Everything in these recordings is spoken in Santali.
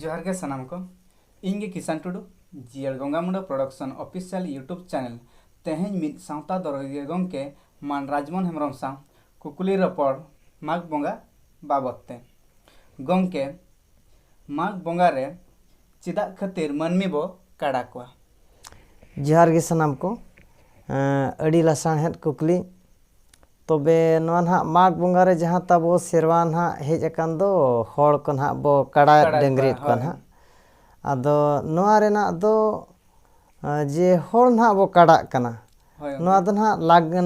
ᱡᱚᱦᱟᱨ ᱜᱮ ᱥᱟᱱᱟᱢ ᱠᱚ ᱤᱧ ᱜᱮ ᱠᱤᱥᱟᱱ ᱴᱩᱰᱩ ᱡᱤᱭᱟᱹᱲ ᱜᱚᱝᱜᱟ Munda production official YouTube channel ᱛᱮᱦᱮᱧ ᱢᱤᱫ ᱥᱟᱶᱛᱟ ᱫᱚᱨᱚᱜᱤᱭᱟᱹ ᱜᱚᱢᱠᱮ ᱢᱟᱱ ᱨᱟᱡᱽᱢᱳᱦᱚᱱ ᱦᱮᱢᱵᱨᱚᱢ ᱥᱟᱶ ᱠᱩᱠᱞᱤ ᱨᱚᱯᱚᱲ ᱢᱟᱜᱽ ᱵᱚᱸᱜᱟ ᱵᱟᱵᱚᱫ ᱛᱮ ᱜᱚᱢᱠᱮ ᱢᱟᱜᱽ ᱵᱚᱸᱜᱟ ᱨᱮ ᱪᱮᱫᱟᱜ ᱠᱷᱟᱹᱛᱤᱨ ᱢᱟᱹᱱᱢᱤ ᱵᱚ ᱠᱟᱲᱟ ᱠᱚᱣᱟ? ᱡᱚᱦᱟᱨ ᱜᱮ ᱥᱟᱱᱟᱢ ᱠᱚ᱾ ᱟᱹᱰᱤ ᱞᱟᱥᱟᱬᱦᱮᱫ ᱠᱩᱠᱞᱤ᱾ ᱛᱚᱵᱮ ᱱᱚᱣᱟ ᱱᱟᱦᱟᱜ ᱢᱟᱜᱽ ᱵᱚᱸᱜᱟ ᱨᱮ ᱡᱟᱦᱟᱸ ᱛᱟᱵᱚ ᱥᱮᱨᱣᱟ ᱱᱟᱦᱟᱜ ᱦᱮᱡ ᱟᱠᱟᱱ ᱫᱚ ᱦᱚᱲ ᱠᱚ ᱱᱟᱦᱟᱜ ᱵᱚ ᱠᱟᱲᱟᱭᱮᱫ ᱰᱟᱹᱝᱨᱤᱭᱮᱫ ᱠᱚᱣᱟ ᱱᱟᱦᱟᱜ᱾ ᱟᱫᱚ ᱱᱚᱣᱟ ᱨᱮᱱᱟᱜ ᱫᱚ ᱡᱮ ᱦᱚᱲ ᱱᱟᱦᱟᱜ ᱵᱚ ᱠᱟᱲᱟᱜ ᱠᱟᱱᱟ ᱱᱚᱣᱟ ᱫᱚ ᱱᱟᱦᱟᱜ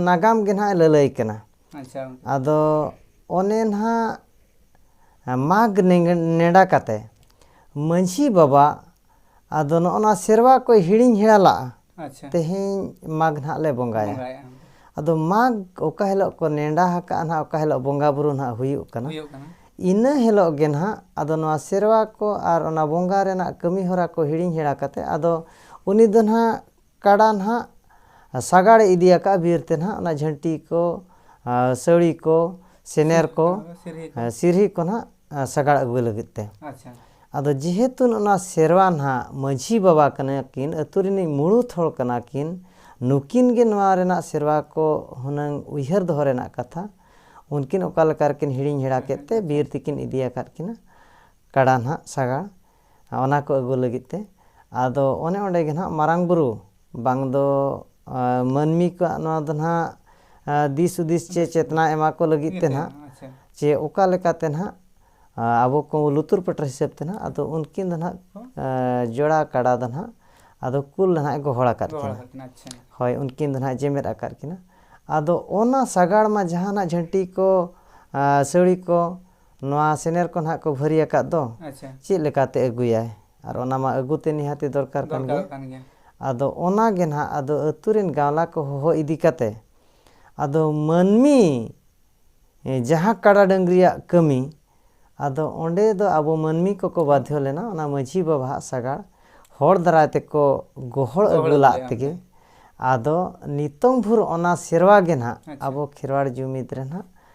ᱱᱟᱜᱟᱢ ᱜᱮ ᱱᱟᱦᱟᱜ ᱮ ᱞᱟᱹᱞᱟᱹᱭ ᱠᱟᱱᱟ᱾ ᱟᱪᱪᱷᱟ ᱟᱫᱚ ᱚᱱᱮ ᱱᱟᱦᱟᱜ ᱢᱟᱜᱽ ᱱᱮᱰᱟ ᱠᱟᱛᱮ ᱢᱟᱺᱡᱷᱤ ᱵᱟᱵᱟ ᱟᱫᱚ ᱱᱚᱜᱼᱚ ᱱᱚᱣᱟ ᱥᱮᱨᱣᱟ ᱠᱚᱭ ᱦᱤᱲᱤᱧ ᱦᱮᱲᱟ ᱞᱟᱜᱼᱟ ᱟᱪᱪᱷᱟ ᱛᱮᱦᱮᱧ ᱢᱟᱜᱽ ᱱᱟᱦᱟᱜ ᱞᱮ ᱵᱚᱸᱜᱟᱭᱟ ᱵᱚᱸᱜᱟᱭᱟ ᱟᱫᱚ ᱢᱟᱜᱽ ᱚᱠᱟ ᱦᱤᱞᱳᱜ ᱠᱚ ᱱᱮᱰᱟ ᱟᱠᱟᱫᱼᱟ ᱱᱟᱦᱟᱜ ᱚᱠᱟ ᱦᱤᱞᱳᱜ ᱵᱚᱸᱜᱟ ᱵᱩᱨᱩ ᱱᱟᱦᱟᱜ ᱦᱩᱭᱩᱜ ᱠᱟᱱᱟ ᱦᱩᱭᱩᱜ ᱠᱟᱱᱟ ᱤᱱᱟᱹ ᱦᱤᱞᱳᱜ ᱜᱮ ᱱᱟᱦᱟᱜ ᱟᱫᱚ ᱱᱚᱣᱟ ᱥᱮᱨᱣᱟ ᱠᱚ ᱟᱨ ᱚᱱᱟ ᱵᱚᱸᱜᱟ ᱨᱮᱱᱟᱜ ᱠᱟᱹᱢᱤ ᱦᱚᱨᱟ ᱠᱚ ᱦᱤᱲᱤᱧ ᱦᱮᱲᱟ ᱠᱟᱛᱮ ᱟᱫᱚ ᱩᱱᱤ ᱫᱚ ᱱᱟᱦᱟᱜ ᱠᱟᱰᱟ ᱱᱟᱦᱟᱜ ᱥᱟᱜᱟᱲᱮ ᱤᱫᱤ ᱟᱠᱟᱫᱼᱟ ᱵᱤᱨ ᱛᱮ ᱱᱟᱦᱟᱜ ᱚᱱᱟ ᱡᱷᱟᱹᱱᱴᱤ ᱠᱚ ᱥᱟᱹᱲᱤ ᱠᱚ ᱥᱮᱱᱮᱨ ᱠᱚ ᱥᱤᱨᱦᱤ ᱠᱚ ᱱᱟᱦᱟᱜ ᱥᱟᱜᱟᱲ ᱟᱹᱜᱩᱭ ᱞᱟᱹᱜᱤᱫ ᱛᱮ ᱟᱫᱚ ᱡᱮᱦᱮᱛᱩ ᱚᱱᱟ ᱥᱮᱨᱣᱟ ᱱᱟᱦᱟᱜ ᱢᱟᱺᱡᱷᱤ ᱵᱟᱵᱟ ᱠᱟᱱᱟ ᱠᱤᱱ ᱟᱹᱛᱩ ᱨᱤᱱᱤᱡ ᱢᱩᱬᱩᱛ ᱦᱚᱲ ᱠᱟᱱᱟ ᱠᱤᱱ ᱱᱩᱠᱤᱱ ᱜᱮ ᱱᱚᱣᱟ ᱨᱮᱱᱟᱜ ᱥᱮᱨᱣᱟ ᱠᱚ ᱦᱩᱱᱟᱹᱝ ᱩᱭᱦᱟᱹᱨ ᱫᱚᱦᱚ ᱨᱮᱱᱟᱜ ᱠᱟᱛᱷᱟ ᱩᱱᱠᱤᱱ ᱚᱠᱟ ᱞᱮᱠᱟ ᱨᱮᱠᱤᱱ ᱦᱤᱲᱤᱧ ᱦᱮᱲᱟ ᱠᱮᱫ ᱛᱮ ᱵᱤᱨ ᱛᱮᱠᱤᱱ ᱤᱫᱤ ᱟᱠᱟᱫ ᱠᱤᱱᱟ ᱠᱟᱰᱟ ᱱᱟᱦᱟᱜ ᱥᱟᱜᱟᱲ ᱚᱱᱟ ᱠᱚ ᱟᱹᱜᱩ ᱞᱟᱹᱜᱤᱫ ᱛᱮ ᱟᱫᱚ ᱚᱱᱮ ᱚᱸᱰᱮ ᱜᱮ ᱱᱟᱦᱟᱜ ᱢᱟᱨᱟᱝ ᱵᱩᱨᱩ ᱵᱟᱝ ᱫᱚ ᱢᱟᱹᱱᱢᱤ ᱠᱚᱣᱟᱜ ᱱᱚᱣᱟ ᱫᱚ ᱱᱟᱦᱟᱜ ᱫᱤᱥ ᱦᱩᱫᱤᱥ ᱪᱮ ᱪᱮᱛᱱᱟ ᱮᱢᱟ ᱠᱚ ᱞᱟᱹᱜᱤᱫ ᱛᱮ ᱱᱟᱦᱟᱜ ᱪᱮ ᱚᱠᱟ ᱞᱮᱠᱟᱛᱮ ᱱᱟᱦᱟᱜ ᱟᱵᱚ ᱠᱚ ᱞᱩᱛᱩᱨ ᱯᱟᱹᱴᱟᱹᱨ ᱦᱤᱥᱟᱹᱵ ᱛᱮ ᱱᱟᱦᱟᱜ ᱟᱫᱚ ᱩᱱᱠᱤᱱ ᱫᱚ ᱱᱟᱦᱟᱜ ᱡᱚᱲᱟ ᱠᱟᱰᱟ ᱫᱚ ᱱᱟᱦᱟᱜ ᱟᱫᱚ ᱠᱩᱞ ᱱᱟᱦᱟᱜ ᱮ ᱜᱚᱦᱚᱲ ᱟᱠᱟᱫ ᱠᱤᱱᱟ ᱦᱳᱭ ᱩᱱᱠᱤᱱ ᱫᱚ ᱱᱟᱦᱟᱜ ᱡᱮᱢᱮᱫ ᱟᱠᱟᱫ ᱠᱤᱱᱟ ᱟᱫᱚ ᱚᱱᱟ ᱥᱟᱜᱟᱲ ᱢᱟ ᱡᱟᱦᱟᱱᱟᱜ ᱡᱷᱟᱹᱱᱴᱤ ᱠᱚ ᱥᱟᱹᱲᱤ ᱠᱚ ᱱᱚᱣᱟ ᱥᱮᱱᱮᱨ ᱠᱚ ᱱᱟᱦᱟᱜ ᱠᱚ ᱵᱷᱟᱹᱨᱤ ᱟᱠᱟᱫ ᱫᱚ ᱟᱪᱪᱷᱟ ᱪᱮᱫ ᱞᱮᱠᱟᱛᱮ ᱟᱹᱜᱩᱭᱟᱭ ᱟᱨ ᱚᱱᱟ ᱢᱟ ᱟᱹᱜᱩ ᱛᱮ ᱱᱤᱦᱟᱹᱛᱤ ᱫᱚᱨᱠᱟᱨ ᱠᱟᱱ ᱜᱮᱭᱟ ᱫᱚᱨᱠᱟᱨᱚᱜ ᱠᱟᱱ ᱜᱮᱭᱟ ᱟᱫᱚ ᱚᱱᱟ ᱜᱮ ᱱᱟᱦᱟᱜ ᱟᱫᱚ ᱟᱹᱛᱩ ᱨᱮᱱ ᱜᱟᱶᱞᱟ ᱠᱚ ᱦᱚᱦᱚ ᱤᱫᱤ ᱠᱟᱛᱮ ᱟᱫᱚ ᱢᱟᱹᱱᱢᱤ ᱡᱟᱦᱟᱸ ᱠᱟᱰᱟ ᱰᱟᱹᱝᱨᱤᱭᱟᱜ ᱠᱟᱹᱢᱤ ᱟᱫᱚ ᱚᱸᱰᱮ ᱫᱚ ᱟᱵᱚ ᱢᱟᱹᱱᱢᱤ ᱠᱚᱠᱚ ᱵᱟᱫᱷᱭᱚ ᱞᱮᱱᱟ ᱚᱱᱟ ᱢᱟᱹᱡᱷᱤ ᱵᱟᱵᱟ ᱦᱟᱜ ᱥᱟᱜᱟᱲ ᱦᱚᱲ ᱫᱟᱨᱟᱭ ᱛᱮᱠᱚ ᱜᱚᱦᱚᱲ ᱜᱚᱦᱚᱲ ᱟᱹᱜᱩ ᱟᱹᱜᱩ ᱞᱟᱜ ᱞᱮᱫᱼᱟ ᱛᱮᱜᱮ ᱚᱸᱰᱮ ᱟᱫᱚ ᱱᱤᱛᱚᱝ ᱵᱷᱳᱨ ᱚᱱᱟ ᱥᱮᱨᱣᱟ ᱜᱮ ᱱᱟᱦᱟᱜ ᱟᱪᱪᱷᱟ ᱟᱵᱚ ᱠᱷᱮᱨᱣᱟᱲ ᱡᱩᱢᱤᱫ ᱨᱮ ᱱᱟᱦᱟᱜ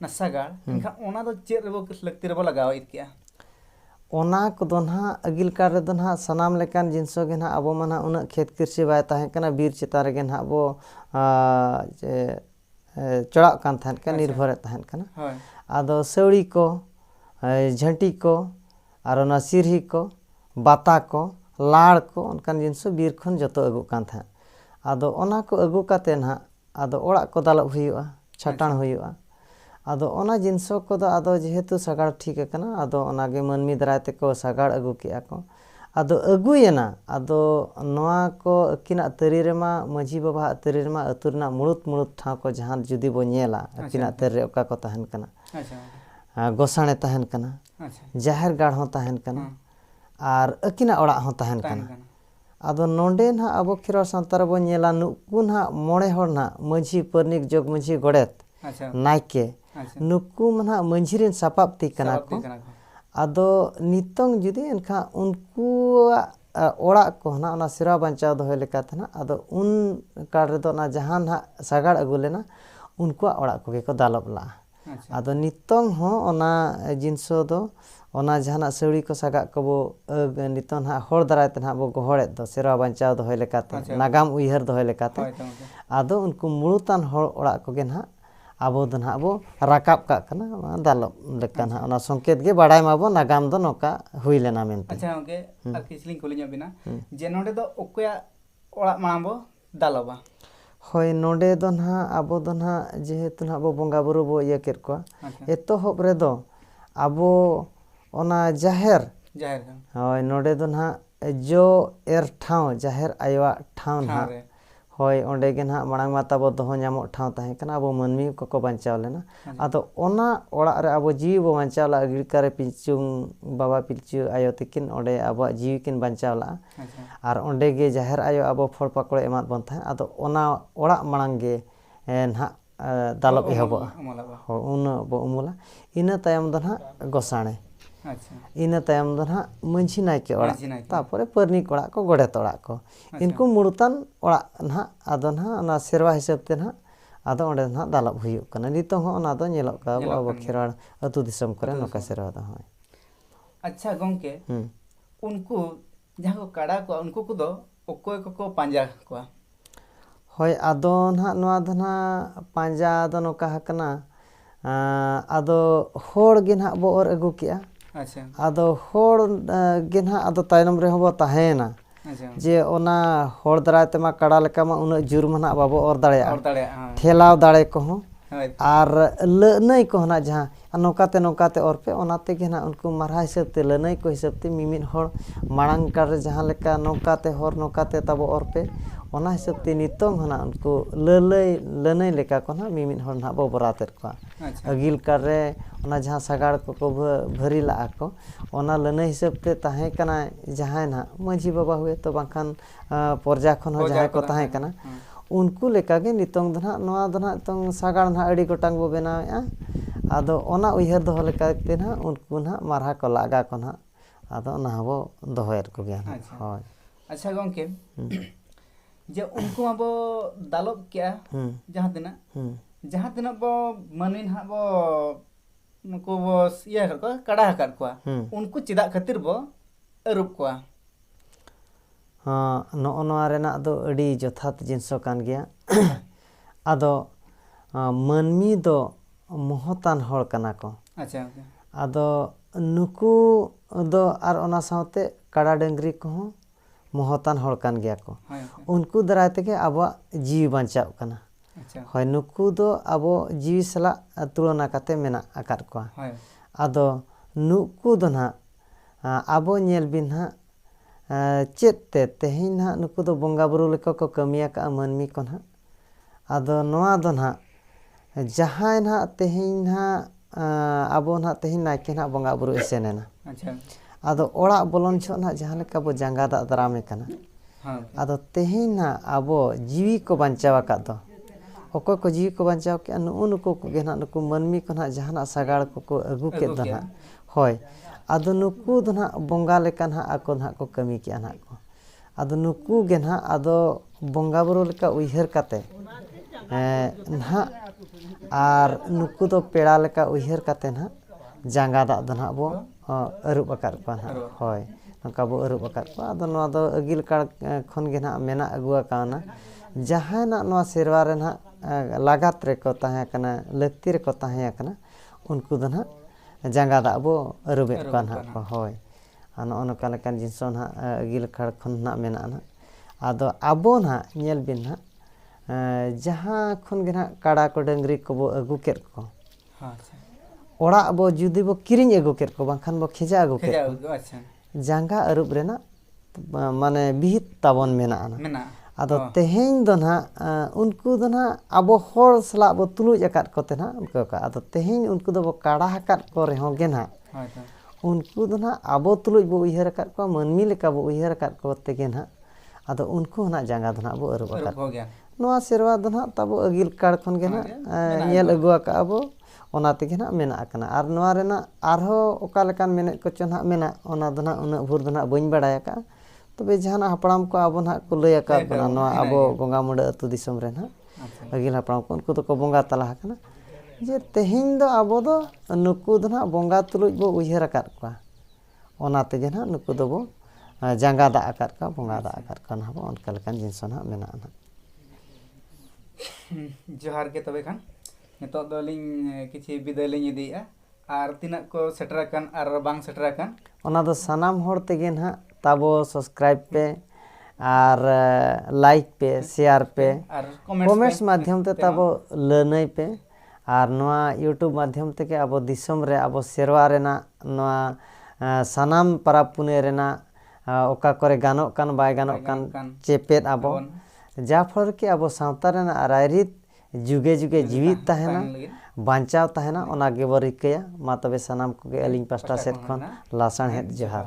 ᱚᱱᱟ ᱥᱟᱜᱟᱲ ᱮᱱᱠᱷᱟᱱ ᱚᱱᱟ ᱫᱚ ᱪᱮᱫ ᱨᱮᱵᱚ ᱞᱟᱹᱠᱛᱤ ᱨᱮᱵᱚ ᱞᱟᱜᱟᱣ ᱤᱫᱤ ᱠᱮᱜᱼᱟ ᱚᱱᱟ ᱠᱚᱫᱚ ᱱᱟᱦᱟᱜ ᱟᱹᱜᱤᱞ ᱠᱟᱞ ᱨᱮᱫᱚ ᱱᱟᱦᱟᱜ ᱥᱟᱱᱟᱢ ᱞᱮᱠᱟᱱ ᱡᱤᱱᱤᱥ ᱜᱮ ᱱᱟᱦᱟᱜ ᱟᱵᱚ ᱢᱟ ᱱᱟᱦᱟᱜ ᱩᱱᱟᱹᱜ ᱠᱷᱮᱛ ᱠᱤᱨᱥᱤ ᱵᱟᱭ ᱛᱟᱦᱮᱸ ᱠᱟᱱᱟ ᱵᱤᱨ ᱪᱮᱛᱟᱱ ᱨᱮᱜᱮ ᱱᱟᱦᱟᱜ ᱵᱚ ᱪᱚᱲᱟᱜ ᱠᱟᱱ ᱛᱟᱦᱮᱸᱫ ᱠᱟᱱᱟ ᱱᱤᱨᱵᱷᱚᱨᱮᱫ ᱛᱟᱦᱮᱸᱫ ᱠᱟᱱᱟ ᱟᱫᱚ ᱥᱟᱹᱣᱲᱤ ᱠᱚ ᱡᱷᱟᱹᱱᱴᱤ ᱠᱚ ᱟᱨ ᱚᱱᱟ ᱥᱤᱨᱦᱤ ᱠᱚ ᱵᱟᱛᱟ ᱠᱚ ᱞᱟᱲ ᱠᱚ ᱚᱱᱠᱟᱱ ᱡᱤᱱᱤᱥ ᱵᱤᱨ ᱠᱷᱚᱱ ᱡᱚᱛᱚ ᱟᱹᱜᱩᱜ ᱠᱟᱱ ᱛᱟᱦᱮᱸᱫ ᱟᱫᱚ ᱚᱱᱟ ᱠᱚ ᱟᱹᱜᱩ ᱠᱟᱛᱮᱫ ᱱᱟᱦᱟᱜ ᱟᱫᱚ ᱚᱲᱟᱜ ᱠᱚ ᱫᱟᱞᱚᱵ ᱦᱩᱭᱩᱜᱼᱟ ᱪᱷᱟᱴᱟᱬ ᱦᱩᱭᱩᱜᱼᱟ ᱟᱫᱚ ᱚᱱᱟ ᱡᱤᱱᱥᱚ ᱠᱚᱫᱚ ᱟᱫᱚ ᱡᱮᱦᱮᱛᱩ ᱥᱟᱜᱟᱲ ᱴᱷᱤᱠ ᱟᱠᱟᱱᱟ ᱟᱫᱚ ᱚᱱᱟᱜᱮ ᱢᱟᱹᱱᱢᱤ ᱫᱟᱨᱟᱭ ᱛᱮᱠᱚ ᱥᱟᱜᱟᱲ ᱟᱹᱜᱩ ᱠᱮᱫᱼᱟ ᱠᱚ ᱟᱫᱚ ᱟᱹᱜᱩᱭᱮᱱᱟ ᱟᱫᱚ ᱱᱚᱣᱟ ᱠᱚ ᱟᱹᱠᱤᱱᱟᱜ ᱛᱟᱹᱨᱤ ᱨᱮᱢᱟ ᱢᱟᱹᱡᱷᱤ ᱵᱟᱵᱟ ᱦᱟᱜ ᱛᱟᱹᱨᱤ ᱨᱮᱢᱟ ᱟᱹᱛᱩ ᱨᱮᱱᱟᱜ ᱢᱩᱬᱩᱛ ᱢᱩᱬᱩᱛ ᱴᱷᱟᱶ ᱠᱚ ᱡᱟᱦᱟᱸ ᱡᱩᱫᱤ ᱵᱚ ᱧᱮᱞᱟ ᱟᱹᱠᱤᱱᱟᱜ ᱛᱟᱹᱨᱤ ᱨᱮ ᱚᱠᱟ ᱠᱚ ᱛᱟᱦᱮᱱ ᱠᱟᱱᱟ ᱜᱚᱥᱟᱬᱮ ᱛᱟᱦᱮᱱ ᱠᱟᱱᱟ ᱡᱟᱦᱮᱨ ᱜᱟᱲ ᱦᱚᱸ ᱛᱟᱦᱮᱱ ᱠᱟᱱᱟ ᱟᱨ ᱟᱹᱠᱤᱱᱟᱜ ᱚᱲᱟᱜ ᱦᱚᱸ ᱛᱟᱦᱮᱱ ᱠᱟᱱᱟ ᱟᱫᱚ ᱱᱚᱸᱰᱮ ᱱᱟᱦᱟᱜ ᱟᱵᱚ ᱠᱷᱮᱨᱣᱟᱲ ᱥᱟᱶᱛᱟ ᱨᱮᱵᱚ ᱧᱮᱞᱟ ᱱᱩᱠᱩ ᱱᱟᱦᱟᱜ ᱢᱚᱬᱮ ᱦᱚᱲ ᱱᱟᱦᱟᱜ ᱢᱟᱺᱡᱷᱤ ᱯᱟᱹᱨᱱᱤᱠ ᱡᱚᱜᱽ ᱢᱟᱺᱡᱷᱤ ᱜᱚᱰᱮᱛ ᱱᱟᱭᱠᱮ ᱱᱩᱠᱩ ᱢᱟ ᱱᱟᱦᱟᱜ ᱢᱟᱺᱡᱷᱤ ᱨᱮᱱ ᱥᱟᱯᱟᱵ ᱛᱤ ᱠᱟᱱᱟ ᱠᱚ ᱟᱫᱚ ᱱᱤᱛᱚᱝ ᱡᱩᱫᱤ ᱮᱱᱠᱷᱟᱱ ᱩᱱᱠᱩᱣᱟᱜ ᱚᱲᱟᱜ ᱠᱚ ᱱᱟᱦᱟᱜ ᱚᱱᱟ ᱥᱮᱨᱣᱟ ᱵᱟᱧᱪᱟᱣ ᱫᱚᱦᱚᱭ ᱞᱮᱠᱟᱛᱮ ᱱᱟᱦᱟᱜ ᱟᱫᱚ ᱩᱱ ᱠᱟᱞ ᱨᱮᱫᱚ ᱚᱱᱟ ᱡᱟᱦᱟᱸ ᱱᱟᱦᱟᱜ ᱥᱟᱜᱟᱲ ᱟᱹᱜᱩ ᱞᱮᱱᱟ ᱩᱱᱠᱩᱣᱟᱜ ᱚᱲᱟᱜ ᱠᱚᱜᱮ ᱠᱚ ᱫᱟᱞᱚᱵ ᱞᱟᱜᱼᱟ ᱟᱫᱚ ᱱᱤᱛᱚᱝ ᱦᱚᱸ ᱚᱱᱟ ᱡᱤᱱᱥᱚ ᱫᱚ ᱚᱱᱟ ᱡᱟᱦᱟᱱᱟᱜ ᱥᱟᱹᱣᱲᱤ ᱠᱚ ᱥᱟᱜᱟᱫ ᱠᱚᱵᱚ ᱱᱤᱛᱚᱝ ᱦᱟᱸᱜ ᱦᱚᱲ ᱫᱟᱨᱟᱭ ᱛᱮ ᱦᱟᱸᱜ ᱵᱚ ᱜᱚᱦᱚᱲᱮᱫ ᱫᱚ ᱥᱮᱨᱣᱟ ᱵᱟᱧᱪᱟᱣ ᱫᱚᱦᱚᱭ ᱞᱮᱠᱟᱛᱮ ᱱᱟᱜᱟᱢ ᱩᱭᱦᱟᱹᱨ ᱫᱚᱦᱚᱭ ᱞᱮᱠᱟᱛᱮ ᱟᱫᱚ ᱩᱱᱠᱩ ᱢᱩᱬᱩᱛᱟᱱ ᱦᱚᱲ ᱚᱲᱟᱜ ᱠᱚᱜᱮ ᱦᱟᱸᱜ ᱟᱵᱚ ᱫᱚ ᱦᱟᱸᱜ ᱵᱚ ᱨᱟᱠᱟᱵ ᱠᱟᱜ ᱠᱟᱱᱟ ᱚᱱᱟ ᱫᱟᱞᱚᱵ ᱞᱮᱠᱟ ᱦᱟᱸᱜ ᱚᱱᱟ ᱥᱚᱝᱠᱮᱛ ᱜᱮ ᱵᱟᱲᱟᱭ ᱢᱟᱵᱚ ᱱᱟᱜᱟᱢ ᱫᱚ ᱱᱚᱝᱠᱟ ᱦᱩᱭ ᱞᱮᱱᱟ ᱢᱮᱱᱛᱮ ᱟᱪᱪᱷᱟ ᱜᱚᱢᱠᱮ ᱟᱨ ᱠᱤᱪᱷᱩ ᱞᱤᱧ ᱠᱩᱞᱤ ᱧᱚᱜ ᱵᱮᱱᱟ ᱡᱮ ᱱᱚᱰᱮ ᱫᱚ ᱚᱠᱚᱭᱟᱜ ᱚᱲᱟᱜ ᱢᱟᱲᱟᱝ ᱵᱚ ᱫᱟᱞᱚᱵᱟ᱾ ᱦᱳᱭ ᱱᱚᱰᱮ ᱫᱚ ᱱᱟᱦᱟᱜ ᱟᱵᱚ ᱫᱚ ᱱᱟᱦᱟᱜ ᱡᱮᱦᱮᱛᱩ ᱱᱟᱦᱟᱜ ᱵᱚ ᱵᱚᱸᱜᱟ ᱵᱩᱨᱩ ᱵᱚ ᱤᱭᱟᱹ ᱠᱮᱫ ᱠᱚᱣᱟ ᱮᱛᱚᱦᱚᱵ ᱨᱮᱫᱚ ᱟᱵᱚ ᱚᱱᱟ ᱡᱟᱦᱮᱨ ᱦᱳᱭ ᱱᱚᱰᱮ ᱫᱚ ᱱᱟᱦᱟᱜ ᱡᱚ ᱮᱨ ᱴᱷᱟᱶ ᱡᱟᱦᱮᱨ ᱟᱭᱳᱣᱟᱜ ᱴᱷᱟᱶ ᱱᱟᱦᱟᱜ ᱦᱳᱭ ᱚᱸᱰᱮ ᱜᱮ ᱱᱟᱦᱟᱜ ᱢᱟᱲᱟᱝ ᱢᱟ ᱛᱟᱵᱚ ᱫᱚᱦᱚ ᱧᱟᱢᱚᱜ ᱴᱷᱟᱶ ᱛᱟᱦᱮᱸ ᱠᱟᱱᱟ ᱟᱵᱚ ᱢᱟᱹᱱᱢᱤ ᱠᱚᱠᱚ ᱵᱟᱧᱪᱟᱣ ᱞᱮᱱᱟ᱾ ᱟᱫᱚ ᱚᱱᱟ ᱚᱲᱟᱜ ᱨᱮ ᱟᱵᱚ ᱡᱤᱣᱤ ᱵᱚ ᱵᱟᱧᱪᱟᱣ ᱞᱮᱫᱼᱟ ᱟᱹᱜᱤᱲᱠᱟ ᱨᱮ ᱯᱤᱞᱪᱩ ᱵᱟᱵᱟ ᱯᱤᱞᱪᱩ ᱟᱭᱳ ᱛᱟᱹᱠᱤᱱ ᱚᱸᱰᱮ ᱟᱵᱚᱣᱟᱜ ᱡᱤᱣᱤ ᱠᱤᱱ ᱵᱟᱧᱪᱟᱣ ᱞᱮᱫᱼᱟ ᱟᱨ ᱚᱸᱰᱮ ᱜᱮ ᱡᱟᱦᱮᱨ ᱟᱭᱳ ᱟᱵᱚ ᱯᱷᱚᱲ ᱯᱟᱠᱚᱲᱮ ᱮᱢᱟᱫ ᱵᱚᱱ ᱛᱟᱦᱮᱸᱫ ᱟᱫᱚ ᱚᱱᱟ ᱚᱲᱟᱜ ᱢᱟᱲᱟᱝ ᱜᱮ ᱱᱟᱦᱟᱜ ᱫᱟᱞᱚᱵ ᱮᱦᱚᱵᱚᱜᱼᱟ ᱦᱳᱭ ᱩᱱ ᱵᱚ ᱩᱢᱩᱞᱟ ᱤᱱᱟᱹ ᱛᱟᱭᱚᱢ ᱫᱚ ᱱᱟᱦᱟᱜ ᱜᱚᱥᱟᱬᱮ ᱤᱱᱟᱹ ᱛᱟᱭᱚᱢ ᱫᱚ ᱱᱟᱦᱟᱜ ᱢᱟᱺᱡᱷᱤ ᱱᱟᱭᱠᱮ ᱚᱲᱟᱜ ᱛᱟᱨᱯᱚᱨᱮ ᱯᱟᱹᱨᱱᱤᱠ ᱚᱲᱟᱜ ᱠᱚ ᱜᱚᱰᱮᱛ ᱚᱲᱟᱜ ᱠᱚ ᱤᱱᱠᱩ ᱢᱩᱬᱩᱛᱟᱱ ᱚᱲᱟᱜ ᱱᱟᱦᱟᱜ ᱟᱫᱚ ᱱᱟᱦᱟᱜ ᱚᱱᱟ ᱥᱮᱨᱣᱟ ᱦᱤᱥᱟᱹᱵᱽ ᱛᱮ ᱱᱟᱦᱟᱜ ᱟᱫᱚ ᱚᱸᱰᱮ ᱫᱚ ᱱᱟᱦᱟᱜ ᱫᱟᱞᱚᱵ ᱦᱩᱭᱩᱜ ᱠᱟᱱᱟ ᱱᱤᱛᱚᱝ ᱦᱚᱸ ᱚᱱᱟ ᱫᱚ ᱧᱮᱞᱚᱜ ᱠᱟᱱᱟ ᱧᱮᱞᱚᱜ ᱟᱵᱚ ᱠᱟᱱ ᱜᱮᱭᱟ ᱠᱷᱮᱨᱣᱟᱲ ᱟᱹᱛᱩ ᱫᱤᱥᱚᱢ ᱠᱚᱨᱮ ᱟᱹᱛᱩ ᱱᱚᱝᱠᱟ ᱫᱤᱥᱚᱢ ᱥᱮᱨᱣᱟ ᱫᱚ ᱦᱳᱭ ᱟᱪᱪᱷᱟ ᱜᱚᱝᱠᱮ ᱦᱩᱸ ᱩᱱᱠᱩ ᱡᱟᱦᱟᱸ ᱠᱚ ᱠᱟᱲᱟ ᱠᱚᱣᱟ ᱩᱱᱠᱩ ᱠᱚᱫᱚ ᱚᱠᱚᱭ ᱠᱚᱠᱚ ᱯᱟᱸᱡᱟ ᱠᱚᱣᱟ ᱦᱳᱭ ᱟᱫᱚ ᱱᱟᱦᱟᱜ ᱱᱚᱣᱟ ᱫᱚ ᱱᱟᱦᱟᱜ ᱯᱟᱸᱡᱟ ᱫᱚ ᱱᱚᱝᱠᱟ ᱦᱟᱠᱟᱱᱟ ᱟᱫᱚ ᱦᱚᱲ ᱜᱮ ᱱᱟᱦᱟᱜ ᱵᱚ ᱚᱨ ᱟᱹᱜᱩ ᱠᱮᱜᱼᱟ ᱟᱪᱪᱷᱟ ᱟᱫᱚ ᱦᱚᱲ ᱜᱮ ᱱᱟᱦᱟᱜ ᱟᱫᱚ ᱛᱟᱭᱱᱚᱢ ᱨᱮᱦᱚᱸ ᱵᱚ ᱛᱟᱦᱮᱸᱭᱮᱱᱟ ᱟᱪᱪᱷᱟ ᱡᱮ ᱚᱱᱟ ᱦᱚᱲ ᱫᱟᱨᱟᱭ ᱛᱮᱢᱟ ᱠᱟᱰᱟ ᱞᱮᱠᱟ ᱢᱟ ᱩᱱᱟᱹᱜ ᱡᱳᱨ ᱢᱟ ᱱᱟᱦᱟᱜ ᱵᱟᱵᱚ ᱚᱨ ᱫᱟᱲᱮᱭᱟᱜᱼᱟ ᱚᱨ ᱫᱟᱲᱮᱭᱟᱜᱼᱟ ᱦᱳᱭ ᱴᱷᱮᱞᱟᱣ ᱫᱟᱲᱮ ᱠᱚᱦᱚᱸ ᱦᱳᱭ ᱟᱨ ᱞᱟᱹᱱᱟᱹᱭ ᱠᱚᱦᱚᱸ ᱱᱟᱦᱟᱜ ᱡᱟᱦᱟᱸ ᱟᱨ ᱱᱚᱝᱠᱟᱛᱮ ᱱᱚᱝᱠᱟᱛᱮ ᱚᱨ ᱯᱮ ᱚᱱᱟ ᱛᱮᱜᱮ ᱱᱟᱦᱟᱜ ᱩᱱᱠᱩ ᱢᱟᱨᱦᱟ ᱦᱤᱥᱟᱹᱵᱽ ᱛᱮ ᱞᱟᱹᱱᱟᱹᱭ ᱠᱚ ᱦᱤᱥᱟᱹᱵᱽ ᱛᱮ ᱢᱤᱢᱤᱫ ᱦᱚᱲ ᱢᱟᱲᱟᱝ ᱠᱟᱨ ᱨᱮ ᱡᱟᱦᱟᱸ ᱞᱮᱠᱟ ᱱᱚᱝᱠᱟᱛᱮ ᱦᱚᱨ ᱱᱚᱝᱠᱟᱛᱮ ᱛᱟᱵᱚ ᱚᱨ ᱯᱮ ᱚᱱᱟ ᱦᱤᱥᱟᱹᱵ ᱛᱮ ᱱᱤᱛᱚᱝ ᱦᱚᱸ ᱱᱟᱦᱟᱜ ᱩᱱᱠᱩ ᱞᱟᱹᱞᱟᱹᱭ ᱞᱟᱹᱱᱟᱹᱭ ᱞᱮᱠᱟ ᱠᱚ ᱱᱟᱦᱟᱜ ᱢᱤᱢᱤᱫ ᱦᱚᱲ ᱱᱟᱦᱟᱜ ᱵᱚ ᱵᱚᱨᱟᱛᱮᱫ ᱠᱚᱣᱟ ᱟᱪᱪᱷᱟ ᱟᱹᱜᱤᱞ ᱠᱟᱞ ᱨᱮ ᱚᱱᱟ ᱡᱟᱦᱟᱸ ᱥᱟᱜᱟᱲ ᱠᱚᱠᱚ ᱵᱷᱟᱹ ᱵᱷᱟᱹᱨᱤ ᱞᱟᱜᱼᱟ ᱠᱚ ᱚᱱᱟ ᱞᱟᱹᱱᱟᱹᱭ ᱦᱤᱥᱟᱹᱵ ᱛᱮ ᱛᱟᱦᱮᱸ ᱠᱟᱱᱟᱭ ᱡᱟᱦᱟᱸᱭ ᱱᱟᱦᱟᱜ ᱢᱟᱺᱡᱷᱤ ᱵᱟᱵᱟ ᱦᱩᱭ ᱛᱚ ᱵᱟᱝᱠᱷᱟᱱ ᱯᱚᱨᱡᱟ ᱠᱷᱚᱱ ᱦᱚᱸ ᱯᱚᱨᱡᱟ ᱡᱟᱦᱟᱸᱭ ᱠᱚ ᱠᱚ ᱛᱟᱦᱮᱸ ᱛᱟᱦᱮᱸ ᱠᱟᱱᱟ ᱠᱟᱱᱟ, ᱦᱮᱸ᱾ ᱩᱱᱠᱩ ᱞᱮᱠᱟ ᱜᱮ ᱱᱤᱛᱚᱝ ᱫᱚ ᱱᱟᱦᱟᱜ ᱱᱚᱣᱟ ᱫᱚ ᱱᱟᱦᱟᱜ ᱱᱤᱛᱚᱝ ᱥᱟᱜᱟᱲ ᱱᱟᱦᱟᱜ ᱟᱹᱰᱤ ᱜᱚᱴᱟᱝ ᱵᱚ ᱵᱮᱱᱟᱣᱮᱜᱼᱟ ᱟᱫᱚ ᱚᱱᱟ ᱩᱭᱦᱟᱹᱨ ᱫᱚᱦᱚ ᱞᱮᱠᱟ ᱛᱮ ᱱᱟᱦᱟᱜ ᱩᱱᱠᱩ ᱱᱟᱦᱟᱜ ᱢᱟᱨᱦᱟ ᱠᱚ ᱞᱟᱜᱟ ᱠᱚ ᱱᱟᱦᱟᱜ ᱟᱫᱚ ᱚᱱᱟ ᱦᱚᱸᱵᱚ ᱫᱚᱦᱚᱭᱮᱫ ᱠᱚᱜᱮᱭᱟ ᱱᱟᱦᱟᱜ ᱟᱪᱪᱷᱟ ᱦᱳᱭ ᱟᱪᱪᱷᱟ ᱜᱚᱝᱠᱮ ᱡᱮ ᱩᱱᱠᱩ ᱢᱟᱵᱚ ᱫᱟᱞᱚᱵ ᱠᱮᱜᱼᱟ ᱡᱟᱦᱟᱸ ᱛᱤᱱᱟᱹᱜ ᱡᱟᱦᱟᱸ ᱛᱤᱱᱟᱹᱜ ᱵᱚ ᱢᱟᱹᱱᱢᱤ ᱱᱟᱦᱟᱜ ᱵᱚ ᱱᱩᱠᱩ ᱵᱚ ᱤᱭᱟᱹ ᱟᱠᱟᱫ ᱠᱚᱣᱟ ᱠᱟᱰᱟ ᱟᱠᱟᱫ ᱠᱚᱣᱟ ᱩᱱᱠᱩ ᱪᱮᱫᱟᱜ ᱠᱷᱟᱹᱛᱤᱨ ᱵᱚ ᱟᱹᱨᱩᱵ ᱠᱚᱣᱟ ᱱᱚᱜᱼᱚ ᱱᱚᱣᱟ ᱨᱮᱱᱟᱜ ᱫᱚ ᱟᱹᱰᱤ ᱡᱚᱛᱷᱟᱛ ᱡᱤᱱᱤᱥ ᱠᱟᱱ ᱜᱮᱭᱟ ᱟᱫᱚ ᱢᱟᱹᱱᱢᱤ ᱫᱚ ᱢᱚᱦᱚᱛᱟᱱ ᱦᱚᱲ ᱠᱟᱱᱟ ᱠᱚ᱾ ᱟᱪᱪᱷᱟ ᱜᱚᱝᱠᱮ᱾ ᱟᱫᱚ ᱱᱩᱠᱩ ᱫᱚ ᱟᱨ ᱚᱱᱟ ᱥᱟᱶᱛᱮ ᱠᱟᱰᱟ ᱰᱟᱹᱝᱨᱤ ᱠᱚᱦᱚᱸ ᱢᱚᱦᱚᱛᱟᱱ ᱦᱚᱲ ᱠᱟᱱ ᱜᱮᱭᱟ ᱠᱚ᱾ ᱦᱳᱭ ᱜᱚᱝᱠᱮ᱾ ᱩᱱᱠᱩ ᱫᱟᱨᱟᱭ ᱛᱮᱜᱮ ᱟᱵᱚᱣᱟᱜ ᱡᱤᱣᱤ ᱵᱟᱧᱪᱟᱜ ᱠᱟᱱᱟ᱾ ᱟᱪᱪᱷᱟ᱾ ᱦᱳᱭ ᱱᱩᱠᱩ ᱫᱚ ᱟᱵᱚ ᱡᱤᱣᱤ ᱥᱟᱞᱟᱜ ᱛᱩᱞᱚᱱᱟ ᱠᱟᱛᱮ ᱢᱮᱱᱟᱜ ᱟᱠᱟᱫ ᱠᱚᱣᱟ᱾ ᱦᱳᱭ᱾ ᱟᱫᱚ ᱱᱩᱠᱩ ᱫᱚ ᱱᱟᱦᱟᱜ ᱟᱵᱚ ᱧᱮᱞ ᱵᱤᱱ ᱱᱟᱦᱟᱜ ᱪᱮᱫ ᱛᱮ ᱛᱮᱦᱮᱧ ᱱᱟᱦᱟᱜ ᱱᱩᱠᱩ ᱫᱚ ᱵᱚᱸᱜᱟ ᱵᱩᱨᱩ ᱞᱮᱠᱟ ᱠᱚ ᱠᱟᱹᱢᱤ ᱟᱠᱟᱫᱼᱟ ᱢᱟᱹᱱᱢᱤ ᱠᱚ ᱱᱟᱦᱟᱜ᱾ ᱟᱫᱚ ᱱᱚᱣᱟ ᱫᱚ ᱱᱟᱦᱟᱜ ᱡᱟᱦᱟᱸᱭ ᱱᱟᱦᱟᱜ ᱛᱮᱦᱮᱧ ᱱᱟᱦᱟᱜ ᱟᱵᱚ ᱱᱟᱦᱟᱜ ᱛᱮᱦᱮᱧ ᱱᱟᱭᱠᱮ ᱱᱟᱦᱟᱜ ᱵᱚᱸᱜᱟ ᱵᱩᱨᱩᱭ ᱥᱮᱱ ᱮᱱᱟ ᱟᱪᱪᱷᱟ ᱟᱫᱚ ᱚᱲᱟᱜ ᱵᱚᱞᱚᱱ ᱡᱚᱦᱚᱜ ᱱᱟᱦᱟᱜ ᱡᱟᱦᱟᱸ ᱞᱮᱠᱟ ᱵᱚ ᱡᱟᱸᱜᱟ ᱫᱟᱜ ᱫᱟᱨᱟᱢᱮ ᱠᱟᱱᱟ ᱦᱮᱸ ᱟᱫᱚ ᱛᱮᱦᱮᱧ ᱱᱟᱦᱟᱜ ᱟᱵᱚ ᱡᱤᱣᱤ ᱠᱚ ᱵᱟᱧᱪᱟᱣ ᱟᱠᱟᱫ ᱫᱚ ᱚᱠᱚᱭ ᱠᱚ ᱡᱤᱣᱤ ᱠᱚ ᱵᱟᱧᱪᱟᱣ ᱠᱮᱜᱼᱟ ᱱᱩᱜᱼᱩ ᱱᱩᱠᱩ ᱠᱚᱜᱮ ᱱᱟᱦᱟᱜ ᱱᱩᱠᱩ ᱢᱟᱹᱱᱢᱤ ᱠᱚ ᱱᱟᱦᱟᱜ ᱡᱟᱦᱟᱱᱟᱜ ᱥᱟᱜᱟᱲ ᱠᱚᱠᱚ ᱟᱹᱜᱩ ᱠᱮᱫ ᱫᱚ ᱱᱟᱦᱟᱜ ᱦᱳᱭ ᱟᱫᱚ ᱱᱩᱠᱩ ᱫᱚ ᱱᱟᱦᱟᱜ ᱵᱚᱸᱜᱟ ᱞᱮᱠᱟ ᱱᱟᱦᱟᱜ ᱟᱠᱚ ᱱᱟᱦᱟᱜ ᱠᱚ ᱠᱟᱹᱢᱤ ᱠᱮᱜᱼᱟ ᱱᱟᱦᱟᱜ ᱠᱚ ᱟᱫᱚ ᱱᱩᱠᱩ ᱜᱮ ᱱᱟᱦᱟᱜ ᱟᱫᱚ ᱵᱚᱸᱜᱟ ᱵᱳᱨᱳ ᱞᱮᱠᱟ ᱩᱭᱦᱟᱹᱨ ᱠᱟᱛᱮᱫ ᱱᱟᱦᱟᱜ ᱟᱨ ᱱᱩᱠᱩ ᱫᱚ ᱯᱮᱲᱟ ᱞᱮᱠᱟ ᱩᱭᱦᱟᱹᱨ ᱠᱟᱛᱮᱫ ᱱᱟᱦᱟᱜ ᱡᱟᱸᱜᱟ ᱫᱟᱜ ᱫᱚ ᱱᱟᱦᱟᱜ ᱵᱚᱱ ᱟᱹᱨᱩᱵ ᱟᱠᱟᱫ ᱠᱚᱣᱟ ᱱᱟᱦᱟᱜ ᱦᱳᱭ ᱱᱚᱝᱠᱟ ᱵᱚᱱ ᱟᱹᱨᱩᱵ ᱟᱠᱟᱫ ᱠᱚᱣᱟ ᱟᱫᱚ ᱱᱚᱣᱟ ᱫᱚ ᱟᱹᱜᱤᱞ ᱠᱟᱞ ᱠᱷᱚᱱ ᱜᱮ ᱱᱟᱦᱟᱜ ᱢᱮᱱᱟᱜ ᱟᱹᱜᱩ ᱟᱠᱟᱱᱟ ᱡᱟᱦᱟᱱᱟᱜ ᱱᱚᱣᱟ ᱥᱮᱨᱣᱟ ᱨᱮ ᱱᱟᱦᱟᱜ ᱞᱟᱜᱟᱛ ᱨᱮᱠᱚ ᱛᱟᱦᱮᱸ ᱠᱟᱱᱟ ᱞᱟᱹᱠᱛᱤ ᱨᱮᱠᱚ ᱛᱟᱦᱮᱸ ᱠᱟᱱᱟ ᱩᱱᱠᱩ ᱫᱚ ᱱᱟᱦᱟᱜ ᱡᱟᱸᱜᱟ ᱫᱟᱜ ᱵᱚᱱ ᱟᱹᱨᱩᱵᱮᱫ ᱠᱚᱣᱟ ᱱᱟᱦᱟᱜ ᱦᱳᱭ ᱟᱨ ᱱᱚᱜᱼᱚ ᱱᱚᱝᱠᱟ ᱞᱮᱠᱟᱱ ᱡᱤᱱᱤᱥ ᱦᱚᱸ ᱱᱟᱦᱟᱜ ᱟᱹᱜᱤᱞ ᱠᱟᱲ ᱠᱷᱚᱱ ᱱᱟᱦᱟᱜ ᱢᱮᱱᱟᱜᱼᱟ ᱱᱟᱦᱟᱜ ᱟᱫᱚ ᱟᱵᱚ ᱱᱟᱦᱟᱜ ᱧᱮᱞ ᱵᱤᱱ ᱱᱟᱦᱟᱜ ᱡᱟᱦᱟᱸ ᱠᱷᱚᱱ ᱜᱮ ᱱᱟᱦᱟᱜ ᱠᱟᱰᱟ ᱠᱚ ᱰᱟᱹᱝᱨᱤ ᱠᱚᱵᱚ ᱟᱹᱜᱩ ᱠᱮᱫ ᱠᱚ ᱚᱲᱟᱜ ᱵᱚ ᱡᱩᱫᱤ ᱵᱚ ᱠᱤᱨᱤᱧ ᱟᱹᱜᱩ ᱠᱮᱫ ᱠᱚ ᱵᱟᱝᱠᱷᱟᱱ ᱵᱚ ᱠᱷᱮᱡᱟ ᱟᱹᱜᱩ ᱠᱮᱫ ᱠᱚ ᱡᱟᱸᱜᱟ ᱟᱹᱨᱩᱵ ᱨᱮᱱᱟᱜ ᱢᱟᱱᱮ ᱵᱤᱦᱤᱫ ᱛᱟᱵᱚᱱ ᱢᱮᱱᱟᱜᱼᱟ ᱢᱮᱱᱟᱜᱼᱟ ᱟᱫᱚ ᱛᱮᱦᱮᱧ ᱫᱚ ᱱᱟᱦᱟᱜ ᱩᱱᱠᱩ ᱫᱚ ᱱᱟᱦᱟᱜ ᱟᱵᱚ ᱦᱚᱲ ᱥᱟᱞᱟᱜ ᱵᱚ ᱛᱩᱞᱩᱡ ᱟᱠᱟᱫ ᱠᱚᱛᱮ ᱱᱟᱦᱟᱜ ᱚᱱᱠᱟ ᱟᱫᱚ ᱛᱮᱦᱮᱧ ᱩᱱᱠᱩ ᱫᱚᱵᱚ ᱠᱟᱲᱟ ᱟᱠᱟᱫ ᱠᱚ ᱨᱮᱦᱚᱸ ᱜᱮ ᱱᱟᱦᱟᱜ ᱩᱱᱠᱩ ᱫᱚ ᱱᱟᱦᱟᱜ ᱟᱵᱚ ᱛᱩᱞᱩᱡ ᱵᱚ ᱩᱭᱦᱟᱹᱨ ᱟᱠᱟᱫ ᱠᱚᱣᱟ ᱢᱟᱹᱱᱢᱤ ᱞᱮᱠᱟ ᱵᱚ ᱩᱭᱦᱟᱹᱨ ᱟᱠᱟᱫ ᱠᱚ ᱛᱮᱜᱮ ᱱᱟᱦᱟᱜ ᱟᱫᱚ ᱩᱱᱠᱩ ᱦᱚᱸ ᱱᱟᱦᱟᱜ ᱡᱟᱸᱜᱟ ᱫᱚ ᱱᱟᱦᱟᱜ ᱵᱚ ᱟᱹᱨᱩᱵ ᱟᱠᱟᱫ ᱠᱚᱣᱟ ᱱᱚᱣᱟ ᱥᱮᱨᱣᱟ ᱫᱚ ᱱᱟᱦᱟᱜ ᱛᱟᱵᱚ ᱟᱹᱜᱤᱞ ᱠᱟᱲ ᱠᱷᱚᱱ ᱜᱮ ᱱᱟᱦᱟᱜ ᱧᱮᱞ ᱟᱹᱜᱩ ᱟᱠᱟᱫᱼᱟ ᱵᱚ ᱚᱱᱟ ᱛᱮᱜᱮ ᱱᱟᱦᱟᱜ ᱢᱮᱱᱟᱜ ᱟᱠᱟᱱᱟ ᱟᱨ ᱱᱚᱣᱟ ᱨᱮᱱᱟᱜ ᱟᱨᱦᱚᱸ ᱚᱠᱟ ᱞᱮᱠᱟᱱ ᱢᱮᱱᱮᱫ ᱠᱚᱪᱚ ᱱᱟᱦᱟᱜ ᱢᱮᱱᱟᱜ ᱚᱱᱟ ᱫᱚ ᱱᱟᱦᱟᱜ ᱩᱱᱟᱹᱜ ᱵᱷᱩᱨ ᱫᱚ ᱱᱟᱦᱟᱜ ᱵᱟᱹᱧ ᱵᱟᱲᱟᱭ ᱟᱠᱟᱫᱼᱟ ᱛᱚᱵᱮ ᱡᱟᱦᱟᱱᱟᱜ ᱦᱟᱯᱲᱟᱢ ᱠᱚ ᱟᱵᱚ ᱱᱟᱦᱟᱜ ᱠᱚ ᱞᱟᱹᱭ ᱟᱠᱟᱫ ᱵᱚᱱᱟ ᱱᱚᱣᱟ ᱟᱵᱚ ᱵᱚᱸᱜᱟ ᱢᱩᱰᱟᱹ ᱟᱹᱛᱩ ᱫᱤᱥᱚᱢ ᱨᱮ ᱱᱟᱦᱟᱜ ᱟᱹᱜᱤᱞ ᱦᱟᱯᱲᱟᱢ ᱠᱚ ᱩᱱᱠᱩ ᱫᱚᱠᱚ ᱵᱚᱸᱜᱟ ᱛᱟᱞᱟ ᱟᱠᱟᱱᱟ ᱡᱮ ᱛᱮᱦᱮᱧ ᱫᱚ ᱟᱵᱚ ᱫᱚ ᱱᱩᱠᱩ ᱫᱚ ᱱᱟᱦᱟᱜ ᱵᱚᱸᱜᱟ ᱛᱩᱞᱩᱡ ᱵᱚ ᱩᱭᱦᱟᱹᱨ ᱟᱠᱟᱫ ᱠᱚᱣᱟ ᱚᱱᱟ ᱛᱮᱜᱮ ᱱᱟᱦᱟᱜ ᱱᱩᱠᱩ ᱫᱚᱵᱚ ᱡᱟᱸᱜᱟ ᱫᱟᱜ ᱟᱠᱟᱫ ᱠᱚᱣᱟ ᱵᱚᱸᱜᱟ ᱫᱟᱜ ᱟᱠᱟᱫ ᱠᱚᱣᱟ ᱱᱟᱦᱟᱜ ᱵᱚ ᱚᱱᱠᱟ ᱞᱮᱠᱟᱱ ᱡᱤᱱᱤᱥ ᱦᱚᱸ ᱱᱟᱦᱟᱜ ᱢᱮᱱᱟᱜᱼᱟ ᱱᱟᱦᱟᱜ ᱡᱚᱦᱟᱨ ᱜᱮ ᱛᱚᱵᱮ ᱠᱷᱟᱱ ᱱᱤᱛᱚᱜ ᱫᱚ ᱟᱹᱞᱤᱧ ᱠᱤᱪᱷᱩ ᱵᱤᱫᱟᱹᱭ ᱞᱤᱧ ᱤᱫᱤᱭᱮᱜᱼᱟ ᱟᱨ ᱛᱤᱱᱟᱹᱜ ᱠᱚ ᱥᱮᱴᱮᱨ ᱟᱠᱟᱱ ᱟᱨ ᱵᱟᱝ ᱥᱮᱴᱮᱨ ᱟᱠᱟᱱ ᱚᱱᱟ ᱫᱚ ᱥᱟᱱᱟᱢ ᱦᱚᱲ ᱛᱮᱜᱮ ᱱᱟᱦᱟᱜ ᱛᱟᱵᱚ ᱥᱟᱵᱥᱠᱨᱟᱭᱤᱵ ᱯᱮ ᱟᱨ ᱞᱟᱭᱤᱠ ᱯᱮ ᱥᱮᱭᱟᱨ ᱯᱮ ᱟᱨ ᱠᱚᱢᱮᱱᱴᱥ ᱠᱚᱢᱮᱱᱴᱥ ᱯᱮ ᱢᱟᱫᱽᱫᱷᱚᱢ ᱛᱮ ᱛᱮᱦᱚᱸ ᱛᱟᱵᱚ ᱞᱟᱹᱱᱟᱹᱭ ᱯᱮ ᱟᱨ ᱱᱚᱣᱟ ᱤᱭᱩᱴᱩᱵᱽ ᱢᱟᱫᱽᱫᱷᱚᱢ ᱛᱮᱜᱮ ᱟᱵᱚ ᱫᱤᱥᱚᱢ ᱨᱮ ᱟᱵᱚ ᱥᱮᱨᱣᱟ ᱨᱮᱱᱟᱜ ᱱᱚᱣᱟ ᱟᱸ, ᱥᱟᱱᱟᱢ ᱯᱟᱨᱟᱵᱽ ᱯᱩᱱᱟᱹᱭ ᱨᱮᱱᱟᱜ ᱟᱸ, ᱚᱠᱟ ᱠᱚᱨᱮ ᱜᱟᱱᱚᱜ ᱠᱟᱱ ᱵᱟᱭ ᱜᱟᱱᱚᱜ ᱠᱟᱱ ᱜᱟᱱᱚᱜ ᱠᱟᱱ ᱪᱮᱯᱮᱫ ᱟᱵᱚ ᱟᱵᱚᱱ ᱡᱟ ᱯᱷᱚᱞ ᱨᱮᱠᱤ ᱟᱵᱚ ᱥᱟᱶᱛᱟ ᱨᱮᱱᱟᱜ ᱨᱟᱭᱨᱤᱛ ᱡᱩᱜᱮ ᱡᱩᱜᱮ ᱡᱤᱣᱤᱫ ᱛᱟᱦᱮᱱᱟ ᱵᱟᱧᱪᱟᱣ ᱛᱟᱦᱮᱱᱟ ᱚᱱᱟ ᱜᱮᱵᱚ ᱨᱤᱠᱟᱹᱭᱟ ᱢᱟ ᱛᱚᱵᱮ ᱥᱟᱱᱟᱢ ᱠᱚᱜᱮ ᱟᱹᱞᱤᱧ ᱯᱟᱥᱴᱟ ᱥᱮᱫ ᱠᱷᱚᱱ ᱞᱟᱥᱟᱬᱦᱮᱫ ᱡᱚᱦᱟᱨ᱾